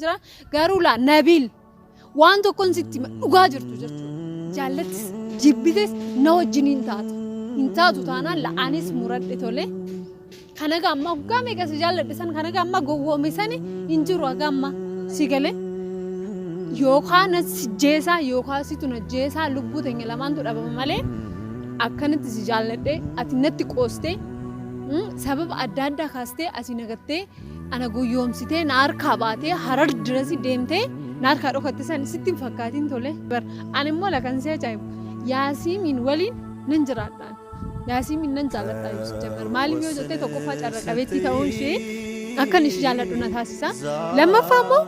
jechaan jira. Garuu laa Nabiil waan tokkon sitti hima, dhugaa jirtu jechuudha. Jaallatis jibbites na wajjin hin taatu. Hin taatu taanaan laa anis muradhe tolee. Kana gaa amma waggaa meeqa si jaalladhe san kana gaa amma gowwoome sani hin jiru haga amma si galee. Yookaan na si jeesaa yookaan situ na jeesaa lubbuu teenya lamaantu dhabama malee akkanatti si jaalladhe ati natti qoostee mm, sababa adda addaa kaastee asii nagattee Ana goyyoomsitee na harkaa baatee harar dirasi deemtee na harkaa dhokatte san sitti hin fakkaatiin tole. Bar ani immoo lakan si ajaa'ibu yaasiimiin waliin nan jiraadhaan. Yaasiimiin nan jaalladhaa yoo si jabbar maaliif yoo jettee tokkoffaa carra qabeettii ta'uun ishee akkan ishee jaalladhu na taasisa. Lammaffaa immoo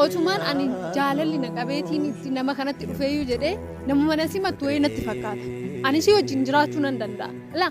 otumaan ani jaalalli na qabeetiin itti nama kanatti dhufeeyyuu jedhee nama mana simattu wayii natti fakkaata. Ani ishee wajjin jiraachuu nan danda'a. Laa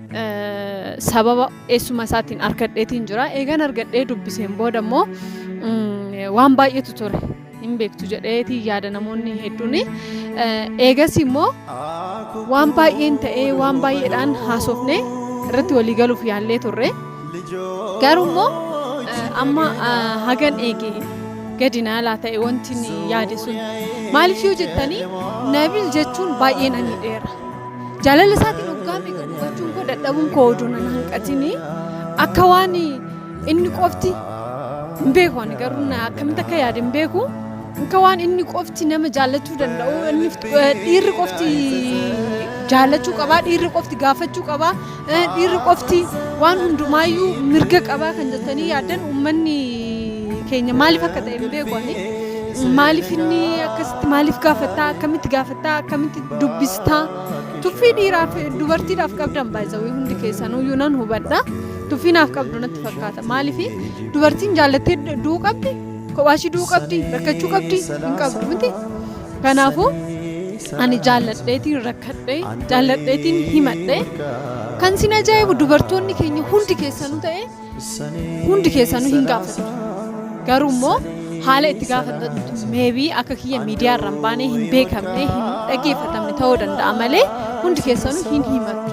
sababa eessuma isaatiin argadheetiin jira. Eegan argadhee dubbiseen booda immoo waan baay'eetu ture. Hin beektu jedheetii yaada namoonni hedduun. Eegas immoo waan baay'een ta'ee waan baay'eedhaan haasofne irratti walii galuuf yaallee turre. Garuu immoo amma hagan eege gadi na laa ta'e wanti yaade sun maaliif yoo jettanii nabil jechuun baay'ee na miidheera. Jaalala isaatiin waggaa meeqa gufachuun koo dadhabuun koo oduu nan hanqatini akka waan inni qofti hin beeku ani garuu na akkamitti akka yaade hin beeku akka waan inni qofti nama jaallachuu danda'u inni dhiirri qofti jaallachuu qabaa dhiirri qofti gaafachuu qabaa Eh, Dhiirri qofti waan hundumaayyuu mirga qabaa kan jettanii yaaddan uummanni keenya maaliif akka ta'e hin beeku ani. Maaliif inni akkasitti maaliif gaafattaa akkamitti gaafattaa akkamitti dubbistaa tuffii dhiiraaf dubartiidhaaf qabdan baay'isawee hundi keessanuyyuu nan hubadha. Tuffii naaf qabdu natti fakkaata maaliif dubartiin jaallattee du'uu qabdi kophaashii du'uu qabdi rakkachuu qabdi hin qabdu miti. Kanaafuu ani jaalladheetiin rakkadhe jaalladheetiin himadhe kan sin ajaa'ibu dubartoonni keenya hundi keessanuu ta'e hundi keessanuu hin gaafatan garuu immoo haala itti gaafatantu meebii akka kiyya miidiyaa irra hin baanee hin beekamne hin dhaggeeffatamne ta'uu danda'a malee hundi keessanuu hin himattu.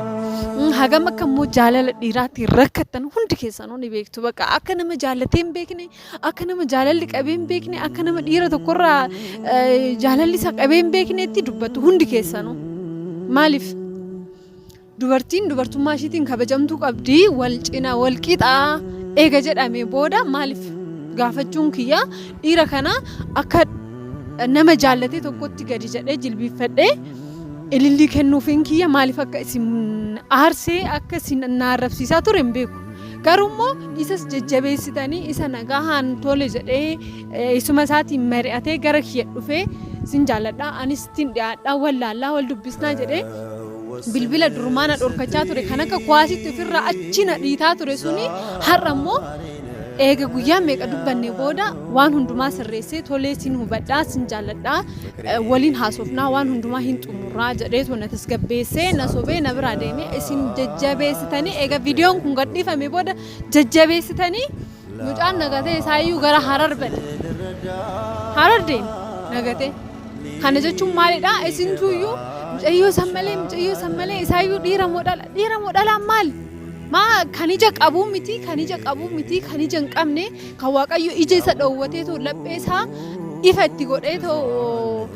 Mm, Hagam akka immoo jaalala dhiiraatiin rakkattan hundi keessanuu ni beektu bakka akka nama jaallatee hin beekne Akka nama jaalalli qabee hin beekne, akka nama dhiira tokkorraa eh, jaalalli isa qabee hin beekneetti dubbattu hundi keessanuu. Maaliif? Dubartiin dubartummaa ishiitiin kabajamtuu qabdi, wal cina, wal qixaa eega jedhamee booda maaliif gaafachuun kiyya dhiira kana akka nama jaallatee tokkotti gadi jedhee jilbiiffadhee ilillii kennuufiin kiyya maaliif akka isin aarsee akka isin na arrabsiisaa ture hin beeku. Garuu immoo isas jajjabeessitanii isa nagahaan tole jedhee eh, isuma isaatiin mari'atee gara kiyya dhufee sin jaalladha anis ittiin dhiyaadha wal laallaa wal dubbisnaa jedhee bilbila durumaa na dhorkachaa ture kan akka kuwaasitti ofirraa achi na dhiitaa ture suni har'a immoo eega guyyaa meeqa dubbanne booda waan hundumaa sirreessee tolee sin hubadhaa sin jaalladhaa waliin haasofnaa waan hundumaa hin xumurraa jedheetu na tasgabbeessee na sobee na biraa deemee isin jajjabeessitanii egaa viidiyoon kun gadhiifame booda jajjabeessitanii mucaan nagatee isaayyuu gara harar bade harar deeme nagatee kana jechuun maalidha isintuyyuu mucayyoo san malee mucayyoo san malee isaayyuu dhiira moo dhala dhiira moo dhalaan maali maa kan ija qabuu miti kan ija qabuu miti kan ija hin qabne Kan Waaqayyo ija isa dhoowwatee too laphee isaa ifa itti godhee too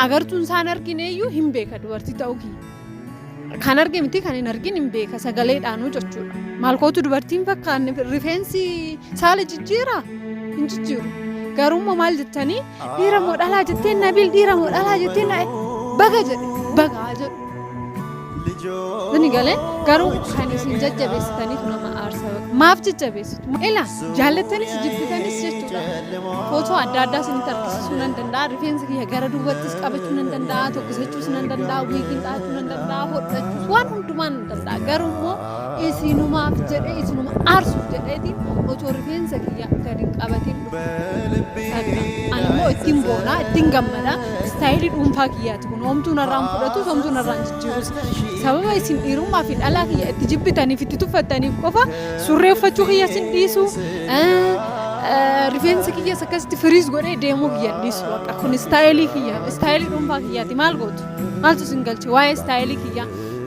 agartuun isaa hin argine iyyuu hin beeka dubartii ta'uu kiyya. Kan arge miti kan hin argin hin beeka sagaleedhaanuu jechuudha. Maal kootu dubartiin fakkaanne rifeensi saala jijjiiraa hin jijjiiru. Garuu immoo maal jettanii Dhiira moo dhalaa jettee Nabil dhiira moo dhalaa jettee na baga jedhe baga haa jedhu. Inni galee garuu kan isin jajjabeessitaniif nama aarsa maaf jajjabeessitu? Ila jaallattanis jibbitanis jechuudha. Footoo adda addaa isinitti argisiisuu nan danda'a. Rifeensa kiyya gara duubattis qabachuu nan danda'a. Tokkisachuus nan danda'a. Wiigiin dhahachuu nan danda'a. Hodhachuus waan hundumaa nan danda'a. Garuu immoo Isiinumaaf jedhee isinuma aarsuuf jedheetiin otoo rifeensa kiyya gad hin qabatiin dhufe. Bakka ani immoo ittiin boonaa ittiin gammadaa istaayilii dhuunfaa kiyyaati kun homtuu narraa hin fudhatus homtuu narraa hin jijjiirus. Sababa isin dhiirummaa fi dhalaa kiyya itti jibbitaniif itti tuffattaniif qofa surree uffachuu kiyya sin dhiisu rifeensa kiyyas akkasitti firiis godhee deemuu kiyya hin dhiisu bakka kun istaayilii kiyya istaayilii dhuunfaa kiyyaati maal gootu maaltu sin galche waa'ee istaayilii kiyyaa.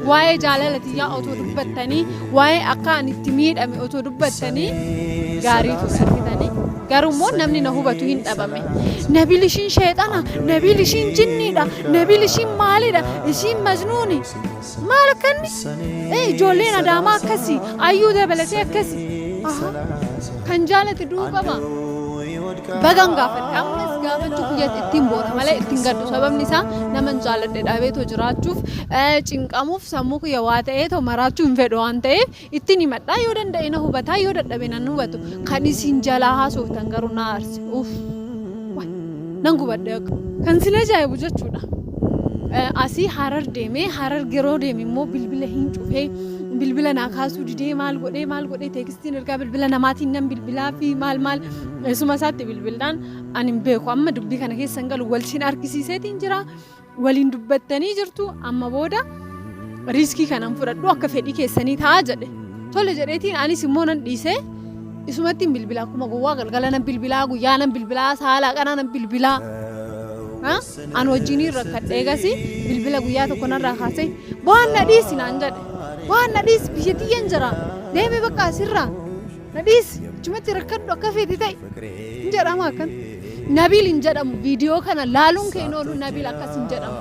waa'ee jaalala tiyyaa otoo dubbattanii waa'ee akka ani itti miidhame otoo dubbattanii gaarii ture argitanii garuu immoo namni na hubatu hin dhabame nabil ishiin sheexana nabil ishiin jinniidha nabil ishiin maalidha ishiin majnuuni maal akkanni ee ijoolleen adaamaa akkasi ayyuu dabalatee akkasi Aha. Kan jaalate du'uu qaba. Bagan gaafadhe ammas gaafachuu kiyyatti ittiin boona malee ittiin gaddu sababni isaa naman jaaladhe dhabeetoo jiraachuuf eh, cinqamuuf sammuu kiyya waa ta'eetoo maraachuu hin fedhu waan ta'eef ittiin himadhaa yoo danda'e na hubataa yoo dadhabe nan hubatu kan isin jalaa haasoftan garuu na aarse uff waay, nan gubadhe akka kan sila ajaa'ibu jechuudha. Eh, asii harar deeme harar geroo deeme immoo bilbila hin cufee bilbila naa kaasuu didee maal godhee maal godhee teekistii Siin ergaa bilbila namaatiin nan bilbilaa fi maal maal eessuma isaatti bilbildhaan ani hin beeku amma dubbii kana keessa hin galu wal siin argisiiseetiin jira waliin dubbattanii jirtu amma booda riiskii kanan fudhadhu akka fedhii keessanii ta'a jedhe tole jedheetiin anis immoo nan dhiisee isumattiin bilbila akkuma gowwaa galgala nan bilbilaa guyyaa nan bilbilaa saalaa qanaa nan bilbilaa an wajjiniin rakkadhee gasi bilbila guyyaa tokko narraa kaasee bohanna dhiisi naan jedhe Waan na dhiisi biyya tiyyan jira deemi bakka asirraa na dhiisi achumatti rakkadhu akka feeti ta'i hin jedhama akkan. Nabiil hin jedhamu viidiyoo kana laaluun kee hin oolu Nabiil akkas hin jedhamu.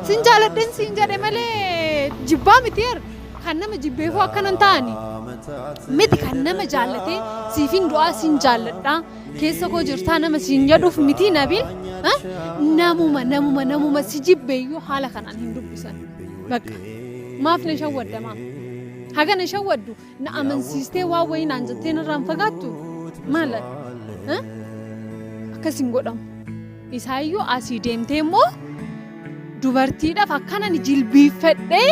Sin jaaladhen siin jedhe malee jibbaa miti yer kan nama jibbeefuu akkanan ta'ani. Miti kan nama jaallatee siifin du'aa siin jaalladhaa keessa koo jirtaa nama siin jedhuuf miti Nabiil. Namuma namuma namuma si jibbeeyyuu haala kanaan hin dubbisan. Bakka. Maaf na shawwadda maaf? Haga na shawwaddu na amansiistee waan wayii naan jettee narraan fagaattu maala? Eh? Akkas hin godhamu. Isaayyuu asii deemtee immoo dubartiidhaaf akkanan jilbiiffadhee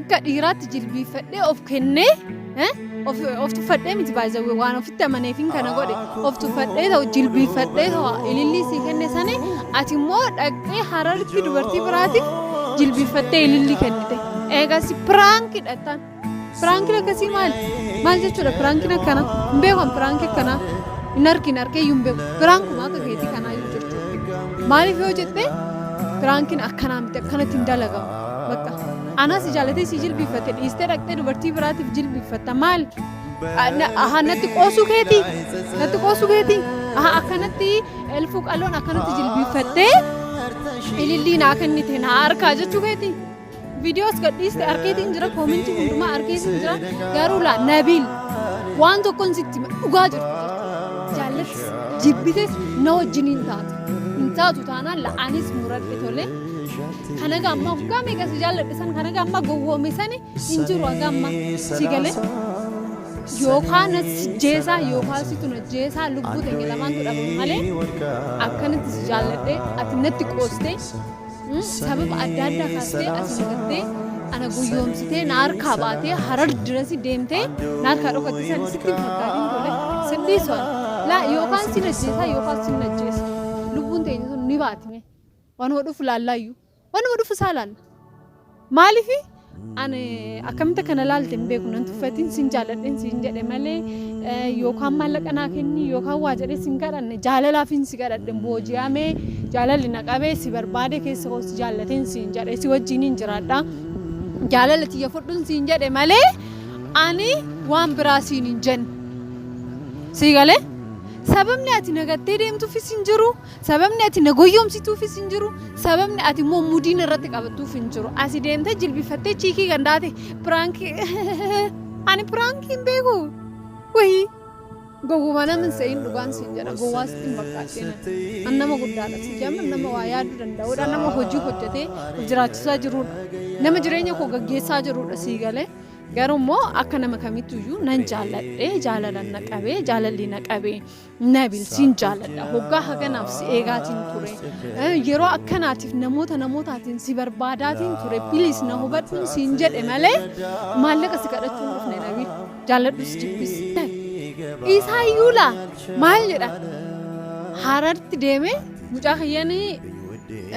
akka dhiiraatti jilbiiffadhee of kennee Eh? Of, of tuffadhee miti baay'ee waan ofitti amaneefin kana godhe of tuffadhee ta'u jilbiifadhee ta'u ilillii sii kenne sani ati immoo dhaqxee hararitti dubartii biraatiif jilbiiffattee ilillii kennite eegas piraanki dhattaan piraankiin akkasii maali maal jechuudha piraankiin akkana hin beekan piraankii akkanaa hin argin argee iyyuu hin beeku piraankuma akka keetii kanaa iyyuu jechuudha maaliif yoo jette piraankiin akkanaa miti akkanatti hin dalagamu bakka Anaa si jaalatee si jilbiiffatte dhiistee dhaqxee dubartii biraatiif jilbiiffatta maal? Aha natti qoosuu keeti natti qoosuu keeti aha akkanatti elfuu qalloon akkanatti jilbiiffattee ilillii naa kennite naa harkaa jechuu keeti. Viidiyoos gadhiiste arkeetiin jira koomintii hundumaa arkeetiin jira garuu laa nabiil waan tokkoon sitti dhugaa jirtu jaallatis jibbites na wajjin hin taatu hin taatu taanaan la'aanis muradhe tolee. Kanaga amma hoggaa meeqa si jaalladhe san kanaga amma gowwoome sani hin jiru haga amma si galee. Yookaan na jeesaa yookaan situ na jeesaa lubbuu teenya lamaantu dhabame malee akkanatti si jaalladhe ati natti qoostee mm, sababa adda addaa kaastee as na gattee ana guyyoomsitee na harkaa baatee harar dirasi deemtee na harkaa dhokatti san sitti hin fakkaatin tole sirrii so'an laa yookaan si na jeesaa yookaan si na jeesa lubbuun teenya sun ni baatime. Wanuma dhufu laallaayyuu. Wanuma dhufu isaa laalla. Maaliif ani akkamitti kana laalte hin beeku nan tuffatiin sin jaaladheen siin jedhe malee eh, yookaan maallaqa naa kenni yookaan waa jedhee sin kadhanne jaalalaafin si kadhadhe booji'amee jaalalli na qabee si barbaade keessa koo si jaallateen siin jedhe si wajjin hin jiraadha. Jaalala tiyya fudhuun siin jedhe malee ani waan biraa siin hin jenne. Sii galee sababni ati nagattee deemtuufis hin jiru Sababni ati na goyyomsituufis hin jiru. Sababni ati immoo mudiin irratti qabattuuf hin jiru. Asi deemtee jilbifattee chiikii gandaate piraankii. Ani piraankii hin beeku. Wayii. Gowwuma nama hin se'in dhugaan siin jedha. Gowwaa sitti hin fakkaadhina. An nama guddaadha. Si jaman nama waa yaaduu danda'udha. Nama hojii hojjetee of jiraachisaa jirudha. Nama jireenya koo gaggeessaa jirudha sii galee. Garuu immoo akka nama kamittuyyuu nan jaalladhe jaalalan na qabee jaalalli na qabee Nabil siin jaaladha hoggaa haganaaf si eegaatiin ture Eh, yeroo akkanaatiif namoota namootaatiin si barbaadaatiin ture bilis na hubadhuun siin jedhe malee maallaqa si kadhachuu hin dhufne Nabil jaaladhus jibbis isaa iyyuu laa maal jedha hararti deemee mucaa kiyyanii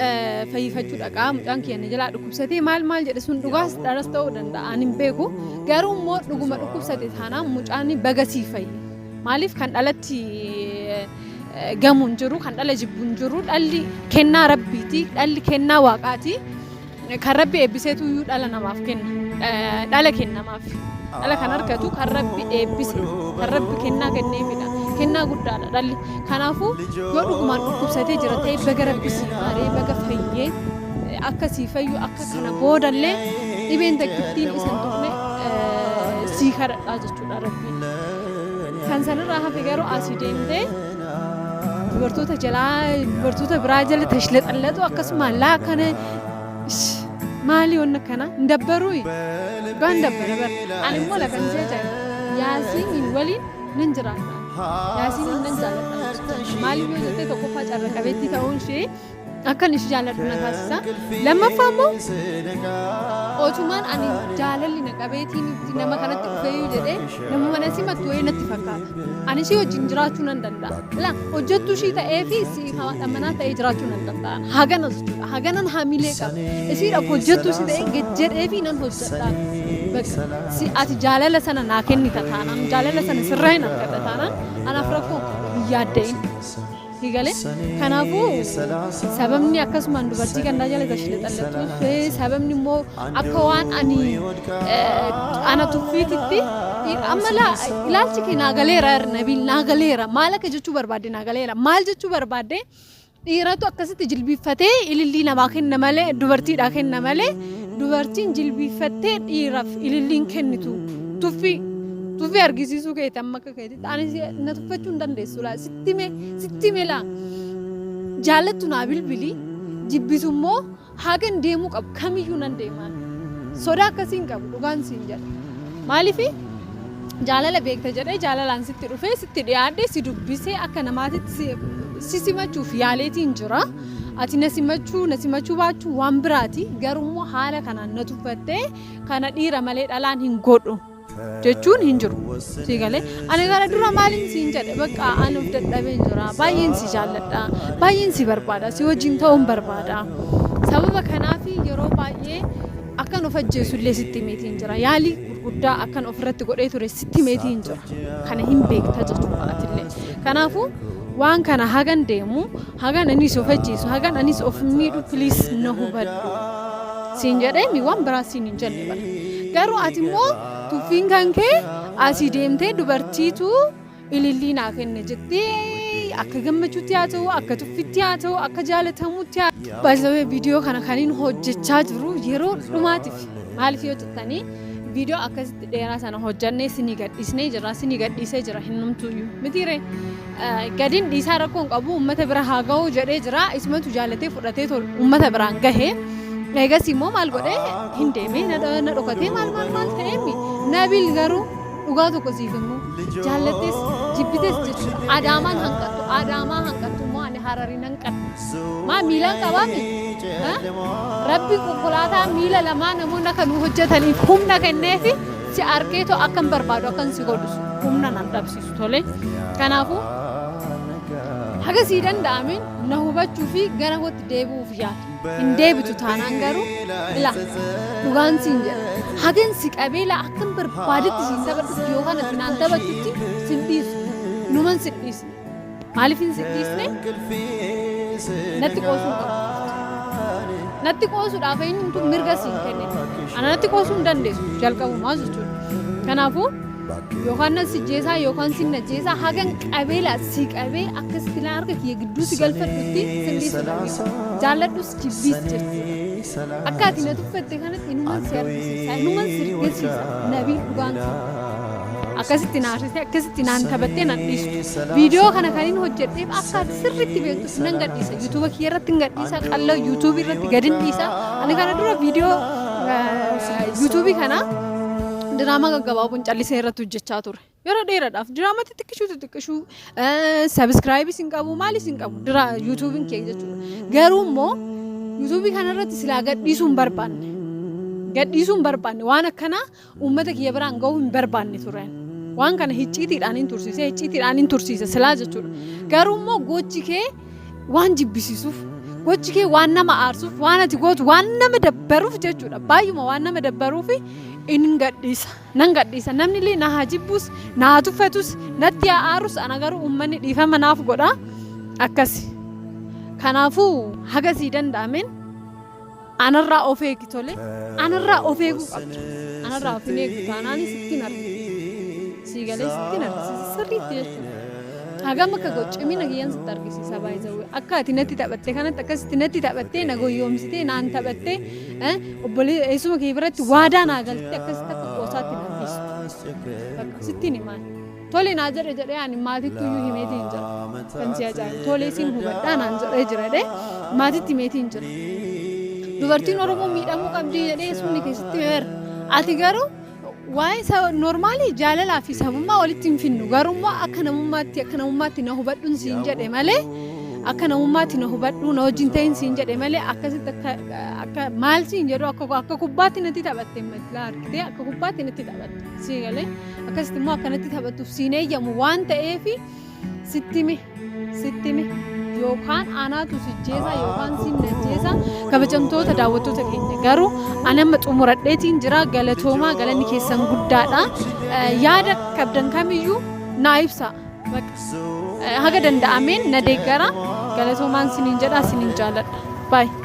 eh, fayyifachuu dhaqaa mucaan kiyyan jalaa dhukkubsatee maal maal jedhe sun dhugaas dharas ta'uu danda'a ani hin beeku garuu immoo dhuguma dhukkubsate taanaan mucaan bagasii fayye Maaliif kan dhalatti gamu hin jiru, kan dhala jibbu hin jiru. Dhalli kennaa Rabbiiti, dhalli kennaa Waaqaati. Kan Rabbi eebbiseetu iyyuu dhala namaaf kenna. Eh, Dhala kennamaaf. Dhala kan argatu kan Rabbi eebbise, kan Rabbi kennaa kenneefidha. Kennaa guddaadha dhalli. Kanaafuu yoo dhugumaan dhukkubsatee jira ta'e baga Rabbi sii maaree, baga fayyee, eh, akka sii fayyu, akka kana boodallee dhibeen takkittiin isan tuqne eh, sii kadhadhaa jechuudha. Dhugaa rabbii. Kan sanirraa hafe garuu asii deemtee dubartoota jalaa dubartoota biraa jala tashlaxallaxu akkasuma laa kana ish, maali wanna kana hin dabbaruu dhugaa hin dabbara bara ani immoo lagan jeetan yaasiin waliin nan jiraadha yaasiin nan jaaladha maaliif yoo jettee tokkoffaa carra qabeettii ta'uun ishee akkan ishii jaalladhu na taasisa. Lammaffaa immoo otumaan ani jaalalli na qabeetiin itti nama kanatti dhufeeyyuu jedhee nama mana simattu wayii natti fakkaata. Ani ishii wajjin jiraachuu nan danda'a. Ilaa hojjettuu ishii ta'ee fi isii haadha manaa ta'ee jiraachuu nan danda'a. Haganas jechuudha. Haganan hamilee qaba. Isiidhaaf hojjettuu ishii ta'ee gad jedhee fi nan hojjedha. Bakka si ati jaalala sana naa kennita taanaan jaalala sana sirraa hin argadha taanaan anaaf rakkoo hin yaadda'in. Sii galee kanaafuu sababni akkasumaan dubartii gandaa jala gashi lexalletuuf sababni immoo akka waan ani ana tuffiititti amma ilaalchi kee naa galeera nabiil naa galeera maal akka jechuu barbaadde naa galeera maal jechuu barbaadde dhiiratu akkasitti jilbiiffatee ilillii namaa kenna malee dubartiidhaa kenna malee dubartiin jilbiiffattee dhiiraaf ililliin kennitu tuffii tuffii argisiisuu keeti amma akka keeti. Ani si- na tuffachuu hin dandeessu laa sitti hime sitti hime laa jaallattu naa bilbili jibbitu immoo hagan deemuu qabu kamiyyuu nan deemaan sodaa akkasii hin qabu dhugaan siin jedha maaliifi jaalala beekta jedhee jaalalaan sitti dhufee sitti dhiyaadhe si dubbisee akka namaatitti si- si simachuuf yaaleetiin jira ati na simachuu na simachuu baachuu waan biraati garuu immoo haala kanaan na tuffattee kana dhiira malee dhalaan hin godhu. jechuun hin jiru sii galee ani gara dura maaliin siin jedhe bakka an of dadhabeen jira baay'een si jaalladha baay'een si barbaada si wajjin ta'uun barbaada sababa kanaaf yeroo baay'ee akkan of ajjeesu illee sitti himeetiin jira yaalii gurguddaa akkan ofirratti godhee ture sitti himeetiin jira kana hin beekta jechuudha atillee kanaafuu waan kana hagan deemu Hagan ani si ofachiisu, hagan anis of miidhu please na hubadhu. Siin jedhee mi waan biraa siin hin jenne bar. Garuu ati immoo tuffiin kan kee asii deemtee dubartiitu ilillii naa kenne jettee akka gammachuutti haa ta'u, akka tuffitti haa ta'u, akka jaalatamutti haa ta'u. Baay'isawee viidiyoo kana kan hin hojjechaa jiru yeroo dhumaatiif maaliif yoo jettanii viidiyoo akkasitti dheeraa sana hojjannee sinii gadhiisnee jira, sinii gadhiisee jira hin numtuyyuu mitiiree. Gadin dhiisaa rakkoo hin qabu uummata bira haa ga'u jedhee jira. Isumatu jaalatee fudhatee tol uummata biraan gahe. Eegas immoo maal godhee hin deemee na dho- na dhokatee maal maal maal ta'eemi. Nabil garuu dhugaa tokko siif himu jaallattes jibbites jechuudha. Adaamaan hanqattu adaamaa hanqattu immoo ani harariin hanqadhu. Maa miilaan qabaami? Ha? Rabbi konkolaataa miila lamaa namoonni akka nu hojjetaniif humna kenneefi si arkeetoo akkan barbaadu akkan si godhu humna nan dhabsiisu. tole kanaafuu haga sii danda'ameen na hubachuu fi gara kootti deebi'uuf yaadu hin deebitu taanaan garuu ila dhugaan siin jedha hagan si qabee laa akkan barbaadetti siin taphadhutti yookaan ati naan taphattutti sin dhiisu numan sin dhiisu Maaliif hin si dhiisne? Natti qoosuu qaba. Natti qoosuudhaaf eenyutu mirga siin kenne? Ana natti qoosuu hin dandeessu jalqabumaa jechuudha. Kanaafuu yookaan nan sijjeesaa yookaan sin najjeesaa hagan qabeelaa si qabee akka sitti laan harka kiyya gidduu si galfadhutti sin dhiisu dandeessu. Jaalladhus jibbiis jirti. Akka ati na tuffatte kanatti inuman si argisiisa, inuman si argisiisa. Nabii dhugaan sun akkasitti na arsite, akkasitti naan taphattee nan dhiisu. Viidiyoo kana kan hin hojjedheef akka ati sirriitti beektuuf nan gadhiisa. Yuutuuba kiyya irratti hin gadhiisa, qal'oo yuutuubii irratti gad hin dhiisa. Ani kana dura viidiyoo eh, yuutuubii kana diraamaa gaggabaaboon callisee irratti hojjechaa ture. Yeroo dheeraadhaaf diraamaa xixiqqishuu xixiqqishuu sabiskiraayib isin qabu maal isin qabu dira yuutuubiin kee jechuudha. Garuu immoo yuutuubii kanarratti silaa gadhiisuu hin barbaanne. Gadhiisuu hin barbaanne waan akkanaa uummata kiyya biraan gahuu hin barbaanne turan. Waan kana hicciitiidhaan hin tursiise hicciitiidhaan hin tursiise silaa jechuudha. Garuu immoo gochi kee waan jibbisiisuuf gochi kee waan nama aarsuuf waan ati gootu waan nama dabbaruuf jechuudha. Baay'uma waan nama dabbaruuf hin gadhiisa. Nan gadhiisa. Namni illee na haa jibbuus, na haa tuffatus, natti haa aarus ana garuu uummanni dhiifama naaf godha. Akkasi. Kanaafuu haga sii danda'ameen anarraa of eegi tole. Anarraa of eeguu qabda. Anarraa of hin eegdu taanaan sittiin argisiisa. Sii galee sittiin argisiisa. Sirriitti jechuudha. Hagam akka godhu cimina kiyyaan sitti argisiisa baay'ee. Akka ati natti taphatte kanatti akkasitti natti taphattee na goyyoomsitee naan taphattee Eh, obbolee eessuma kee biratti waadaa naa galtee akkasitti akka qoosaatti na dhiisu. Bakka sittiin himaan. Tole naa jedhe jedhee ani maatiitti iyyuu himeeti hin jira. Kan si ajaa'ibu tole isin hubadhaa naan jedhee jira jedhee maatiitti himeeti hin jira. Dubartiin Oromoo miidhamuu qabdi jedhee eessumni keessatti himeera. Ati garuu Waa'ee sa- normaalii jaalalaa fi sabummaa walitti hin finnu garuu immoo akka namummaatti akka namummaatti na hubadhuun siin jedhe malee akka namummaatti na hubadhuu na wajjin ta'in siin jedhe malee akkasitti akka akka maal siin jedhu akka akka kubbaatti natti taphatte matlaa argitee akka kubbaatti natti taphatte sii galee akkasitti immoo akka natti taphattuuf siin eeyyamu waan ta'eefi sittime sittime yookaan anaatu sijjeesa yookaan sin najjeesa kabajamtoota daawwattoota keenya garuu anamma xumuradheetiin jira galatoomaa galanni keessan guddaadha yaada qabdan kamiyyuu naa ibsa haga danda'ameen na deeggara galatoomaan siniin jedha siniin jaaladha baay'ee.